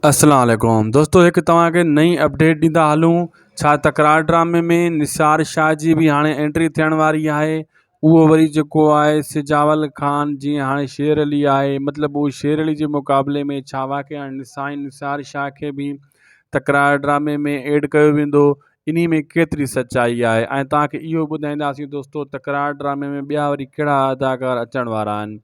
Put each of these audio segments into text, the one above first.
اسلام عليڪم دوستو هڪ توهان کي نئي اپڊيٽ ڏيندا هلون ڇا تڪرار ڊرامي ۾ نثار شاهه جي به هاڻي انٽري ٿيڻ واري آهي اهو وري جيڪو آهي سجاول خان جيئن هاڻي شير علي آهي مطلب اهو شير علي جي مقابلي ۾ ڇا واقعي هاڻي سائين نثار شاهه کي به تڪرار ڊرامي ۾ ايڊ ڪيو ويندو انهي ۾ ڪيتري سچائي آهي ۽ توهان کي اهو ٻڌائينداسين دوستو تڪرار ڊرامي ۾ ٻيا وري ڪهڙا اداڪار اچڻ وارا آهن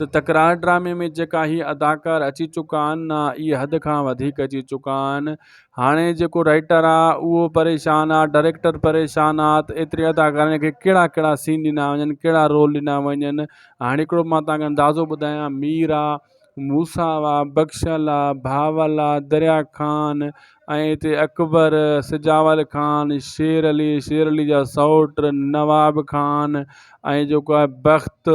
ته تڪرار ڊرامي ۾ جيڪا هي اداڪار اچي چڪا آهن نه اهي حد کان وڌيڪ اچي چڪا آهن هاڻي جيڪو رائٽر آهي اهو پريشان آهي ڊائريڪٽر پريشان آهي ته ايتري اداڪارن کي ڪهڙا ڪهڙا سين ڏنا وڃن ڪهڙا رول ڏنا وڃن هاڻي هڪڙو مان تنهنکي اندازو ٻڌايان مير آهي موسا آهي بخشل آهي بهاول آهي دريا خان ۽ هتي اڪبر سجاول خان شير علي شير علي جا سئوٽ نواب خان ۽ جيڪو آهي بخت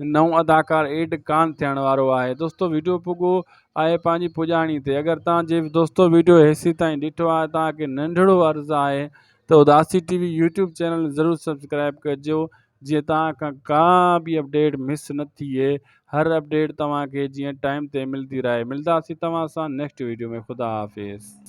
نئون اداڪار ايڊ ڪان ٿيڻ وارو آهي دوستو ويڊيو پڳو آهي پنهنجي پڄاڻي تي اگر تان جي دوستو ويڊيو هيسي تائين ڏٺو آهي تان کي ننڍڙو عرض آهي ته اداسي ٽي وي يوٽيوب چينل ضرور سبسڪرائب ڪجو جيئن تان کان ڪا به اپڊيٽ مس نه ٿئي هر اپڊيٽ توهان کي جيئن ٽائيم تي ملدي رهي ملداسي توهان سان نيڪسٽ ويڊيو ۾ خدا حافظ